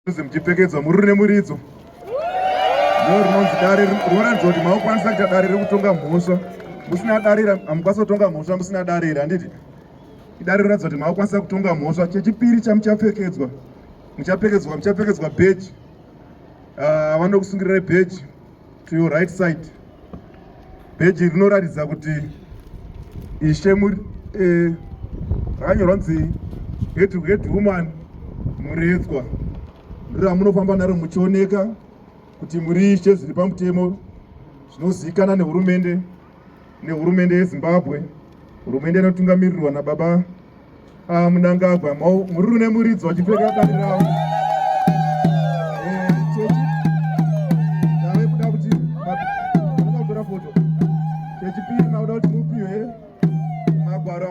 Kunzi muchipfekedzwa mururi nemuridzo no rinonzi dare rinoratidza kuti makukwanisa kuita dare rekutonga mhosva musina dare hamukwanisa kutonga mhosva musina dare iri handiti idare rinoratidza kuti makukwanisa kutonga mhosva chechipiri chamuchapfekedzwa muchapfekedzwa muchapfekedzwa bheji ah, vanokusungirirai bheji To your right side peji rinoratidza kuti ishe muri eh, rakanyorwa nzi head head woman muredzwa ndiramunofamba naro muchioneka kuti muri ishe zviri pamutemo zvinozivikanwa nehurumende nehurumende yezimbabwe hurumende inotungamirirwa nababa Ah, munangagwa muri rune muridzo vachipfeka dare ravo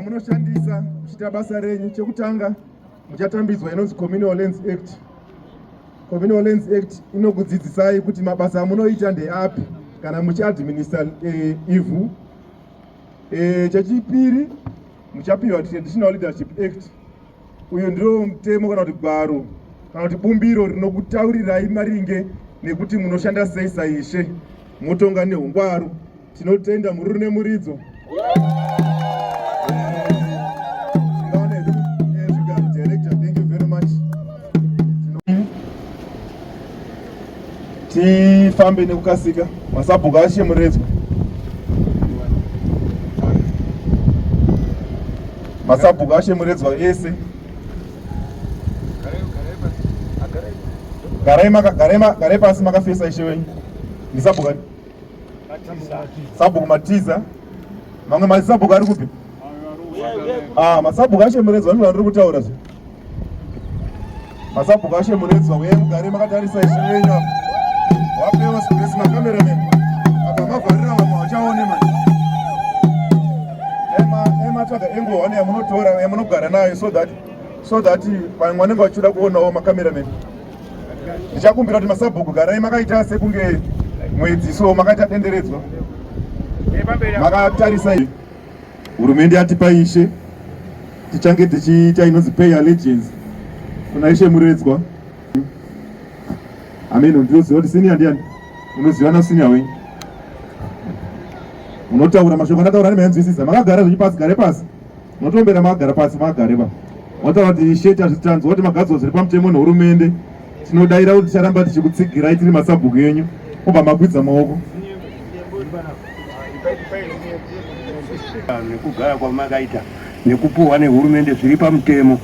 munoshandisa muchiita basa renyu chekutanga muchatambidzwa inonzi communal lands act communal lands act inokudzidzisai kuti mabasa amunoita ndeapi kana muchiadminister eh, ivhu E, chechipiri muchapiwa traditional leadership act uyu ndiro mutemo kana kuti gwaro kana kuti bumbiro rinokutaurirai maringe nekuti munoshanda sei saishe motonga neungwaru tinotenda mururu nemuridzo tifambe nekukasika masabhuku ashe muredzwa masabhuku ashe muredzwa ese garai pasi makafesa ishe wenyu ndisabhuku sabhuku matiza mamwe masabhuku ari kupi Ah, masabhuku ashe muredzwa ndino vandiri kutaura zve masabhuku ashe muredzwa uye mugare makatarisa izvi venyu wapewa space makameramen apa mavharira vamwe vachaone ma ematsvaga enguva one yamunotora yamunogara nayo so that so that vamwe vanenge vachida kuonawo makameramen ndichakumbira kuti masabhuku garai makaita sekunge mwedzi so makaita denderedzwa makatarisa izvi Hurumende yatipa ishe tichange tichiita inonzi pay allegiance kuna ishe Muredzwa. Ameno ndinoziva kuti senior ndiani? Unoziva na senior wenyu. Unotaura mashoko anataura nemanzwisisa. Makagara zvenyu pasi gare pasi. Unotombera makagara pasi magare ba. Wataura kuti ishe tazvitanzwa kuti magadzo zviri pamutemo nehurumende. Tinodaira kuti ticharamba tichikutsigirai tiri masabhuku enyu kubva makwidza maoko nekugaya kwamakaita nekupuhwa nehurumende zviri pamutemo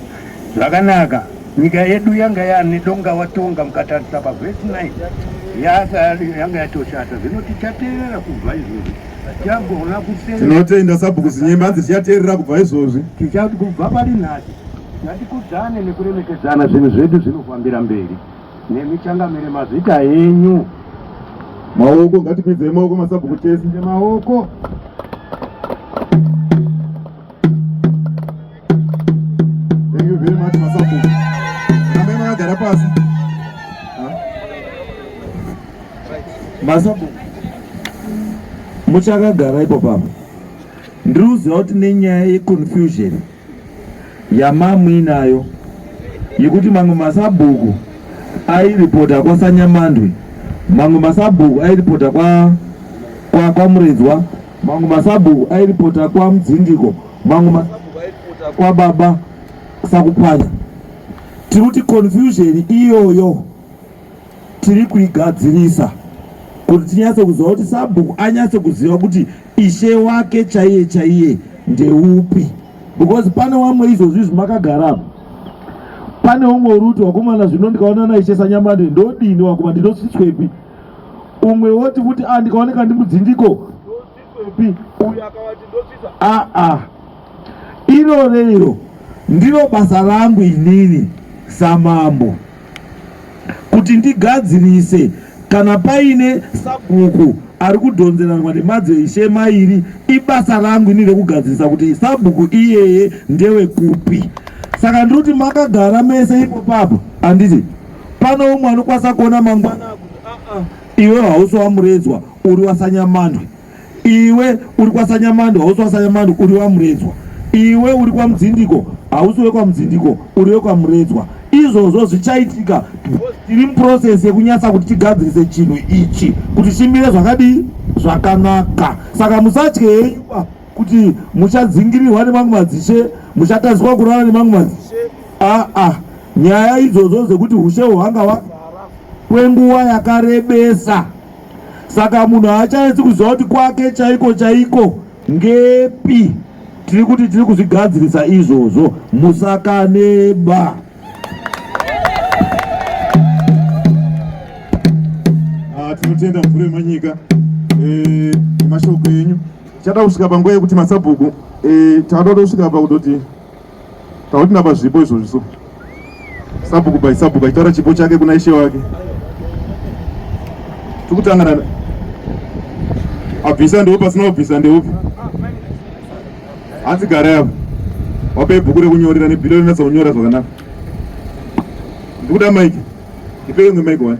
zvakanaka nyika yedu yanga yane donga watonga mukatarisa pavesi 9 yanga yatoshata zvino tichateerera kubva izvozvi Tinotenda sabhuku zinyemba hanzi tichateerera kubva izvozvi. Tichati kubva pari nhasi ngatikudzane nekuremekedzana zvinhu zvedu zvinofambira mberi nemichangamire mazita enyu. Maoko ngatikwidzei maoko masabhuku tese. Maoko. Thank you very much Masapo. Rambai makagara pasi. Masapo. Muchakagara ipo papa. Ndiri kuziva kuti nenyaya yeconfusion yamamuinayo yekuti mamwe masabhuku airipota kwasanyamandwi mamwe masabhuku airipota kwa, kwa, kwa muredzwa Mangu masabhuku airipota kwa Mudzindiko, mangu masabhuku airipota kwa baba Sakupwanya. Tiri kuti confusion iyoyo tiri kuigadzirisa kuti tinyatse kuziva kuti sabhuku anyatse kuziva kuti ishe wake chaiye chaiye ndeupi, because pane wamwe izvozvi izvi makagara pane umwe uruti wakomana zvino ndikaonana ishe sanyamande ndodini wakoma ndinotsitswepi umwe woti kuti a ah, ndikaoneka ndimudzindiko pi uyu akavati ndosvisa aa ah, ah. iro reiro ndiro basa rangu inini samambo kuti ndigadzirise kana paine sabhuku ari kudhonzerarwa nemadzeshe mairi ibasa rangu ini rekugadzirisa kuti sabhuku iyeye ndewe kupi saka ndiri kuti makagara mese ipo papo handiti Pane umwe anokwanisa kuona mangwana akuti aa ah, ah, iwe hausi wamuredzwa uri wasanyamandwe, iwe uri kwasanyamandwe hausi wasanyamandwe uri wamuredzwa, iwe uri kwamudzindiko hausi wekwamudzindiko uri wekwamuredzwa. Izvozvo zvichaitika tiri muprocess yekunyatsa kuti tigadzirise chinhu ichi kuti chimire zvakadii zvakanaka, saka musatye henyuba kuti muchadzingirirwa nemamwe madzishe muchatadzwa kurara nemamwe madzishe aa ah, ah. nyaya idzodzo dzekuti ushe hwanga hwagara kwenguva yakarebesa saka munhu haachanetsi kuziva kuti kwake chaiko chaiko ngepi tiri kuti tiri kuzvigadzirisa izvozvo musakaneba ah, tinotenda mvura yemanyika eh, nemashoko enyu Tichada kusvika panguva yekuti masabhuku eh, tavada kutosvika pakutoti takuti napa zvipo izvozvi so sabhuku by sabhuku achitaura chipo chake kuna ishe wake tikutangana abvisa ndeupi asina kubvisa ndeupi hanzi gara yavo wape bhuku rekunyorera nebhilo rinatsa kunyora zvakanaka ndikuda maiki ndipeke mwe maiki wani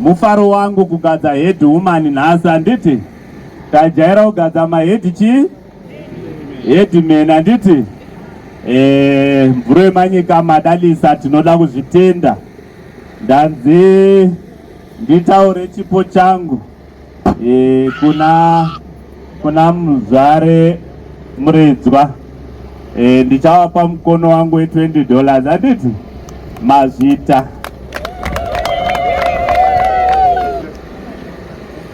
mufaro wangu kugadza head woman nhasi handiti tajaira kugadza mahead chii headman handiti eh, mvuro yemanyika madalisa tinoda kuzvitenda ndanzi nditaure chipo changu e, kuna kuna muzvare muredzwa e, ndichavapa mukono wangu we 20 dollars handiti mazvita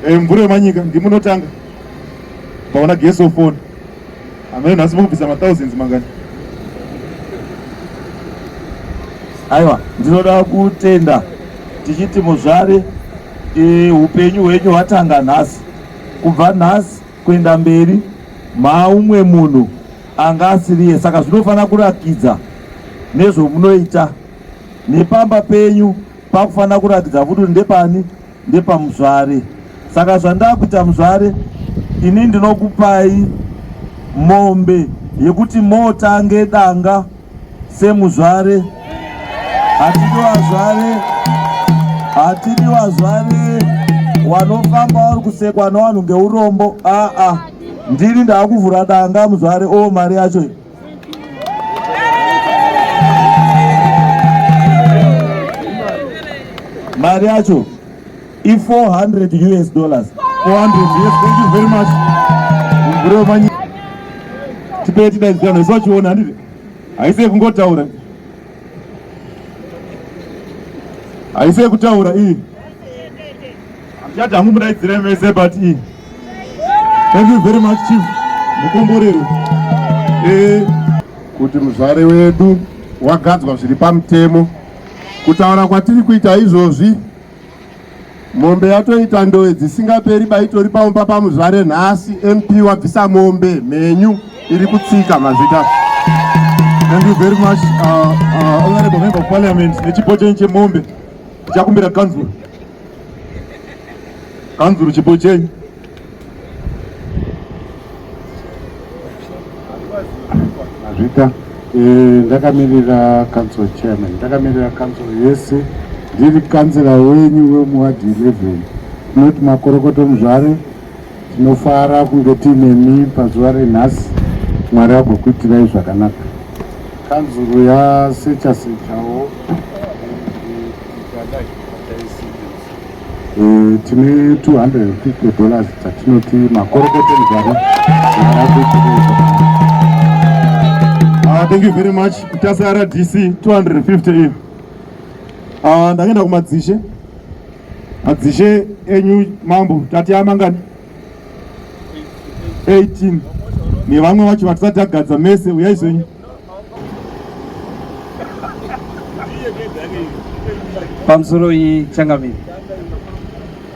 e, mvura yemanyika ndimunotanga paona geso foni Amai nhasi mokubvisa mathousands mangani? Aiwa, ndinoda kutenda tichiti muzvare e, upenyu hwenyu hwatanga nhasi. Kubva nhasi kuenda mberi maumwe munhu anga asiriye, saka zvinofanira kurakidza nezvomunoita nepamba penyu pakufanira kurakidza futi ndepani ndepamuzvare saka zvandakuita muzvare ini ndinokupai mombe yekuti motange danga semuzvare hatidi vazvare hatidi vazvare wanofamba wari kusekwa newanhu ngeurombo aa ndini ndaakuvhura danga muzvare o oh, mari yacho mari yacho i400 us dollars 400 yes thank you very much mburemanyi tipee tidaidzirano isu vachiona handiti haisi yekungotaura haisi yekutaura iyi Handichat hangu mudaidzire mese but i. Thank you very much chief. Mukomborero. Eh kuti muzvare wedu wagadzwa zviri pamutemo. Kutaura kwatiri kuita izvozvi mombe yatoita ndowe dzisingaperi baitori paumba pamuzvare nhasi mp wabvisa mombe mhenyu iri kutsika mazita Thank you very much uh, uh, honorable member of parliament nechipoteni chemombe tichakumbira council Kanzuru chipo chenyu. Azvita eh, ndakamirira council chairman, ndakamirira council yese, ndiri kanzira wenyu wemuwadhi 11 not makorokoto muzvare Tinofara kunge tiinemi pazuva renhasi. Mwari agokuitirai zvakanaka. Kanzuru yasecha sechawo eh, tine 250 dollars dzatinoti makorokoto nzara ah, thank you very much tasara dc 250 iyi ah, ndakaenda kumadzishe Madzishe enyu mambo tati amangani 18 nevamwe vacho vatisati agadza mese uyai zvenyu. Pamusoro iyi changamire.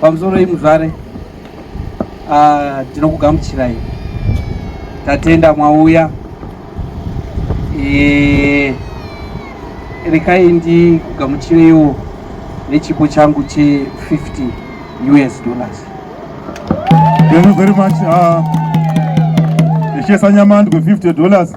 Pamusoro iyi muzvare. Ah, tinokugamuchirai tatenda mwauya eh, rekai ndikugamuchireiwo nechipo changu che 50 us dollars thank you very much uh, ah, echesa nyamandwe 50 dollars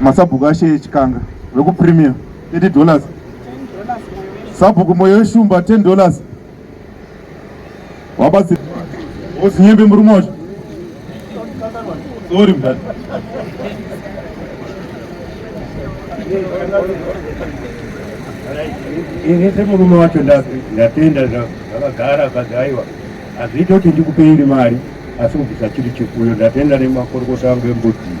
masabhuku ashe echikanga vekupremier 30 dollars sabhuku moyo weshumba 10 dollars wabatsi osinyembe murume wacho sorry mdad ini semurume wacho ndatenda zvakagara akati aiwa hazviite kuti ndikupeiri mari asi kubvisa chiri chikuyo ndatenda nemakorokota angu embudzi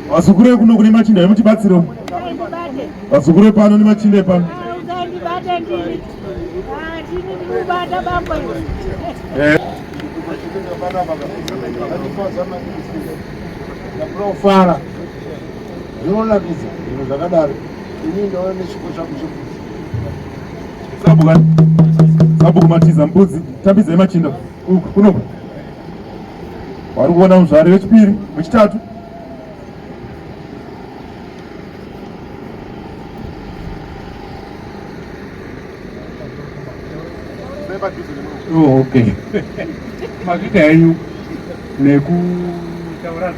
vasukure kuno kune machinda emutibatsiro vasukure pano nemachinda epano eh. Fara. zvinonakidza zvinhu zvakadaro ini ndava nechipo changu chekuti sabhuka sabhuku matiza mbudzi tambidza yemachinda uku kunoku wari kuona muzvari wechipiri wechitatu oh, okay makuita henyu nekutaura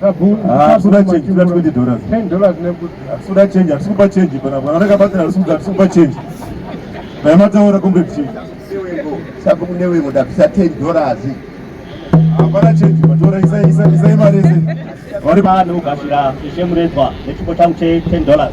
Hapana change, tuna 20 dollars. 10 dollars nebuda. Hapana change, hapana change bana. Bana raka bata hapana hapana change. Bana mata ora kumbe change. Sabu kune wewe muda pisa 10 dollars. Hapana change, matora isa isa isa imari ese. Wari bana ukashira ishe murezwa nechipo changu che 10 dollars.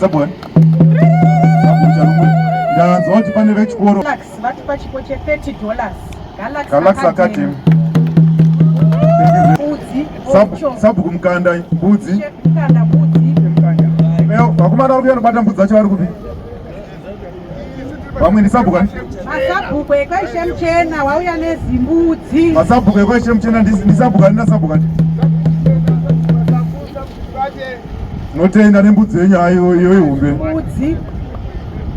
Sabon. Ndaanzwa kuti pane vechikoro. Galax vatipa chipo che 30 dollars. Galax, Galax Academy. Mbudzi. Sabhuku mukanda mbudzi. Mukanda mbudzi. Vakomana vari kuya nobata mbudzi dzacho vari kupi? vamwe ndisabhuku ani masabhuku ekwaishe muchena wauya nezimbudzi masabhuku ekwaishe muchena ndisabhuku ani nasabhuku ani tinotenda nembudzi yenyu hayo iyo ihombe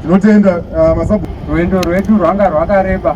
tinotenda ah, masabhuku rwendo rwedu rwanga rwakareba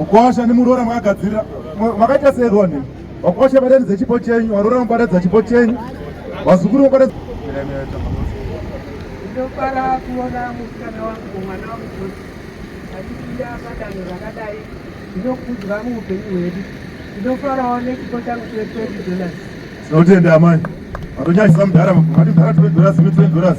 Mkwasha nemuroora makagadzira makaita sei roni wakwasha badani dzechipo chenyu waroora mubada dzachipo chenyu vazukuru mubada ndinofara kuona musikana wangu mwana wangu achipinda padanho rakadai ndinokudza muupenyu hwedu ndinofarawo nechipo changu chetwenty dollars tinotenda amai matonyanyisa mudhara mati mudhara twenty dollars twenty dollars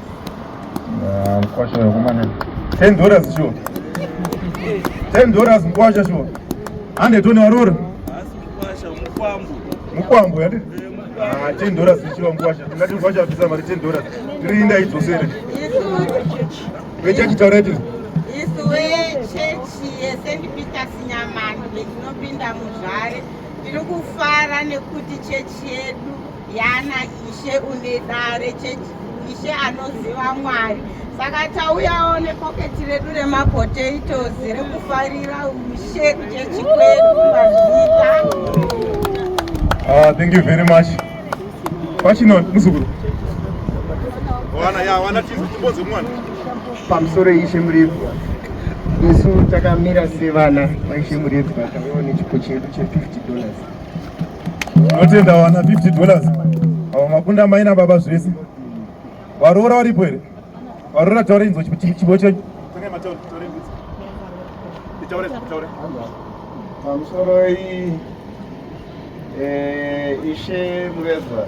Ah, mkwasha wekumana 10 dollars sure 10 dollars mkwasha sure ande tone warora mukwambo yati ah, 10 dollars sure mkwasha tingati mkwasha apisa mari 10 dollars tirinda idzosere vechachitaura iti isu wechechi yesendi peter sinyamani vetinopinda muzvare tiri kufara nekuti chechi yedu Yana ishe une dare chechi ishe anoziva Mwari saka tauyawo nepoketi redu remapotatoes rekufarira ushe kuchechi kwedu kumazvita. Ah, thank you very much. Pachino muzukuru. Wana ya wana tizi tiboze mwana. Pamusoro ishe muripo. Isu takamira sevana vaishe muripo takaona chipo chedu che 50 dollars. Tinotenda wana 50 dollars avo makunda mai nababa zvese varoora varipo here varoora taura inzwa chibo chenyu pamusoroi eh, ishe mureza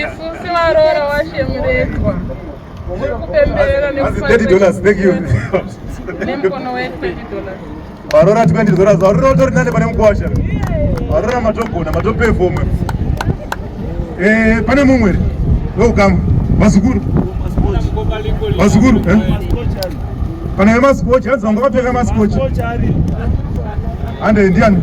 isusi varoora washemuretwa tiri kupemberera nemukono we 20 dollars varora tikandizora varora utori nane pane mukwasha varora matogona matopefoma eh, pane mumwe wekukama vazukuru vazukuru eh? kana vemaskochi hanzi vanga vapfeka maskochi ande ndiani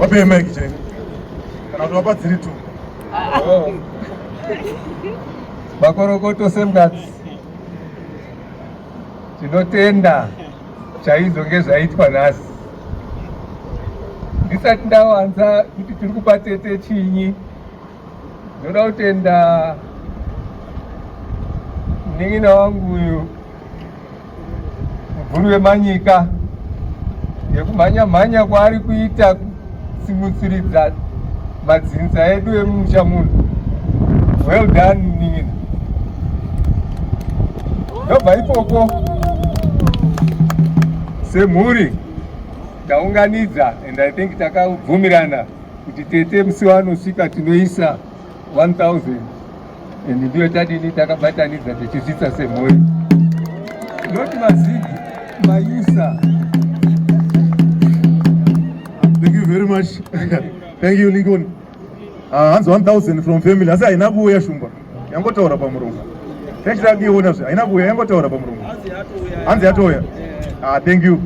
Wape mic cheni. Kana kuti wapa dziri tu. Oh. Makorokoto Semgats. Tinotenda chaizvo ngezvaitwa nhasi. Ndisati ndawanza kuti tiri kupa tete chinyi. Ndoda kutenda munin'ina wangu uyu mubvuri wemanyika nekumhanya mhanya kwaari kuita kusimutsiridza madzinza edu emumusha muno. Well done munin'ina. Ndobva ikoko semhuri taunganidza and I think takabvumirana kuti tete musi wanosvika tinoisa 1000 and ndiyo tadini takabatanidza tichisvitsa semhuri not mazigi mayusa thank you very much thank you lincoln ah, hanzi uh, 1000 from family asi haina kuuya shumba yangotaura pamuromo tachitakiona zve haina kuuya yangotaura pamuromo hanzi yatouya ah, thank you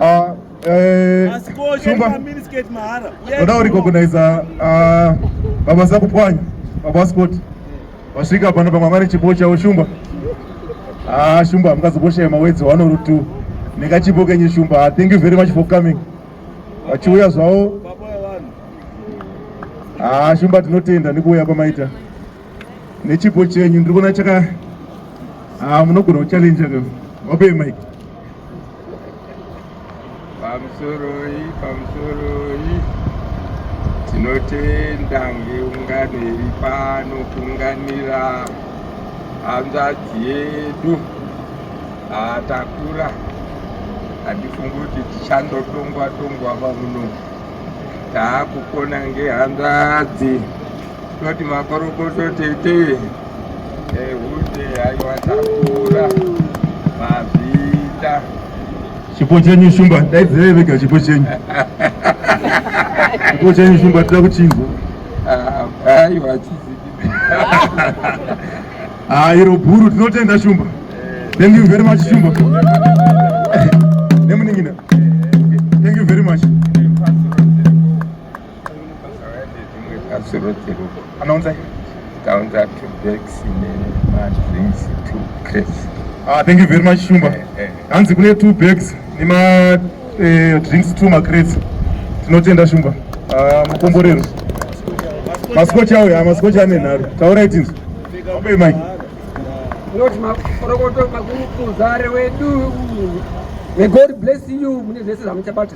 ah, Eh, Shumba, ndoda kurecogniza ah, baba Sakupwanya, baba Scott vasvika pano pamwe vari chipo chavo Shumba. Ah, Shumba hamukazoboshaye mawedzi one or two nekachipo kenyu Shumba. Ah, thank you very much for coming. Vachiuya zvavo. Ah, Shumba tinotenda nekuuya kwamaita. nechipo chenyu ndiri kuona chaka ah, munogona kuchallenja ka wape mike pamusoroi pamusoroi tinotenda ngeungano iri pano kuunganira hanzvadzi yedu atakura handifungi kuti tichandotongwa tongwa pamuno taakukona ngehanzvadzi Toti makorokoto tete ehute aiwa takura mazita chipo chenyu shumba daidzirei vega chipo chenyu chipo chenyu shumba tida kuchinzwa aiwa ah, chizii ah, ah, iro bhuru tinotenda shumba eh. thank you very much shumba nemuningina thank you very much Ah, thank you very much Shumba. Eh, eh. Hanzi kune two bags nema eh, drinks two macrates. Tinotenda Shumba. Ah, mukomborero. Maskochi awo ya maskochi ane nhari. Taura itinzo. Ope mic. Lord makorokoto makuru kuzare wedu. May God bless you mune zvese zvamuchabata.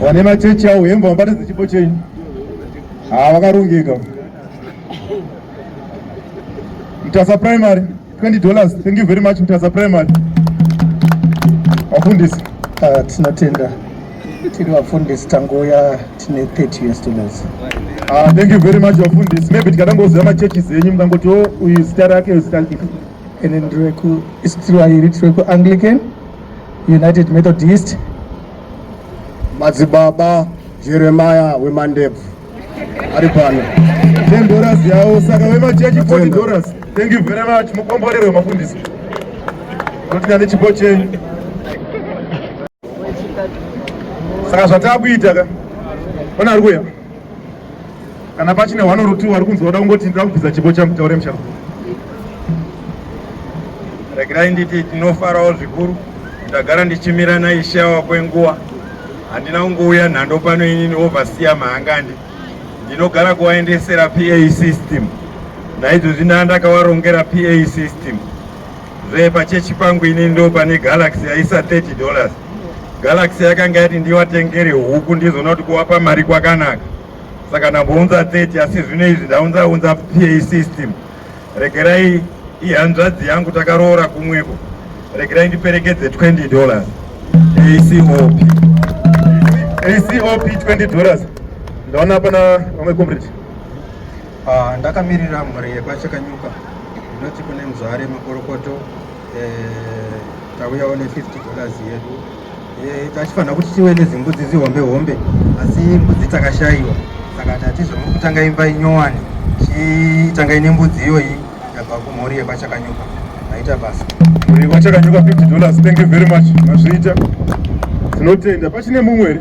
Vane machechi awo hembe vabatidze chipo chenyu. Ah, vakarongeka. Mtasa Primary 20 dollars. Thank you very much Mtasa Primary. Wafundisi. Ah, tinotenda. Tiri wafundisi tangouya tine 30 US dollars. Ah, thank you very much wafundisi. Maybe tikatangoziva machechi zenyu mukangoti oh, uyu zita rake zita rake. Ene ndiri weku Israel, tiri weku Anglican, United Methodist. Madzibaba Jeremiah wemandebvu ari pano. Ten dollars yawo saka vemachechi forty dollars. Thank you very much mukomborerwe mafundisi. Kunotika nechipo chenyu. Saka zvatakuita ka. Ona ari kuya. kana pachine one or two vari kunzwa kuda kungoti ndira kubvisa chipo changu taure musharu regerai nditi tinofarawo zvikuru ndagara ndichimira naishawa kwenguva handina kungouya nhando pano inini ovasiya mahangandi ndinogara kuvaendesera pa system naizvozvi ndandakavarongera pa system Zve pachechi pangu ini ndo pane Galaxy yaisa 30 dollars. Galaxy yakanga yati ndivatengere huku ndizoona kuti kuwapa mari kwakanaka. Saka ndambounza 30 asi zvino izvi ndaunza unza PA system. Regerai ihanzvadzi yangu takaroora kumwepo. Regerai ndiperekedze 20 dollars. ACOP. ACOP 20 dollars. Ndaona pana vamwe comrade. Ah, ndakamirira mhuri yekwachakanyuka ndinoti kune mzware makorokoto eh, tauyawo ne 50 dollars yedu eh, tachifanira kuti tive nezimbudzi zihombe hombe asi mbudzi takashaiwa saka tati zvamuri kutanga imba inyowani chitangai nembudzi iyoyi Ndabva kumhuri yekwachakanyuka maita basa mhuri yekwachakanyuka 50 dollars thank you very much mazviita tinotenda pachine mumwe here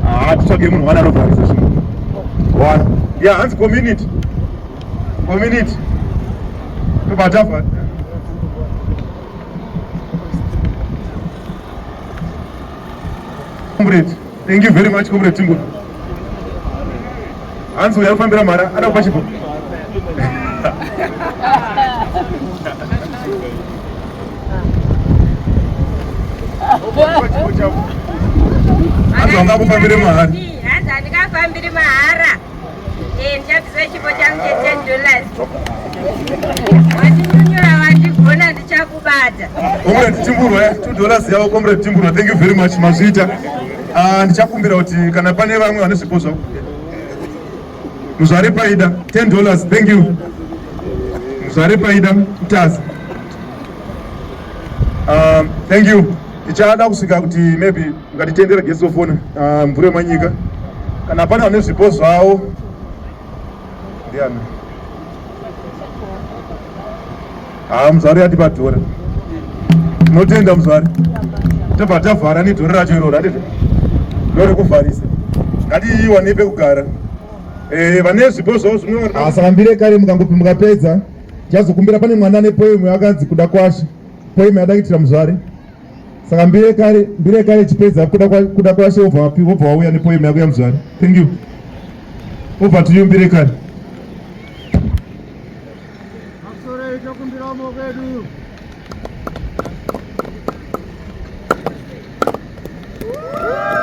haa ah, titsvage munhu wana anovharisa zvinhu one ya hanzi community community tobatava Comrade. Thank you very much Comrade Timbo. Hanzi uya kufambira mara ada kupa chipo. Hanzi wanga kufambira mahara. Hanzi andikafambiri mahara. Eh, ndichakuziva chipo changu che10 dollars. Wandinyunyura wandigona ndichakubata. Comrade Chimburwa, 2 dollars yavo Comrade Chimburwa, thank you very much mazvita. Ah, ndichakumbira kuti kana pane vamwe vane zvipo zvavo. Muzvare Paida, 10 dollars, thank you. Muzvare Paida, Mtazi. Um, thank you. Tichada kusvika kuti maybe Ngatitendere gesi ofona ah, mvura yemanyika kana pane vane zvipo zvavo ndiani haa ah, muzvare yati padhora tinotenda muzvare tobva tavhara nedhora racho iroro atete ndo rekuvharisa ngatiiwane pekugara eh, vane zvipo zvavo zvinoasambire ah, kare mukangopi mukapedza tichazokumbira pane mwana ane poemu yakanzi kuda kwashe poemu yadaitira muzvare Saka mbire kare mbire kare chipedza kuda kwa kuda kwa she over wapi over wauya ne poem yako ya mzwari. Thank you. Over to you mbire kare. Masore ito kumbira mo kwedu. Woo!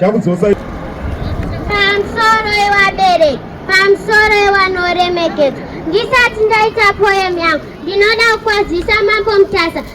chakudzosai pamusoro yevabereki pamusoro yevanoremekedza ndisati ndaita poem yangu ndinoda kukwazisa mambo mutasa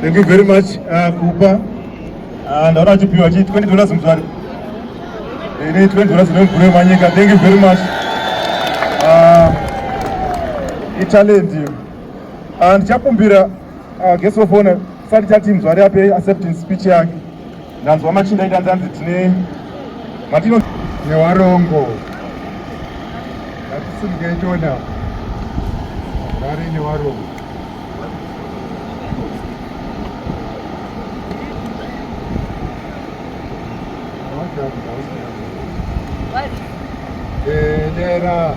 Thank you very much uh, kupa uh, ndaona achipiwa chi 20 dollars mzwari ini 20 dollars nemvure manyika thank you very much uh, italent iyo uh, ndichakumbira Ah, guest of honor sati chati mzwari ape acceptance speech yake ndanzwa machinda ita ndanzi tine matino newarongo ngatisimuketona mzwari newarongo What? Dera.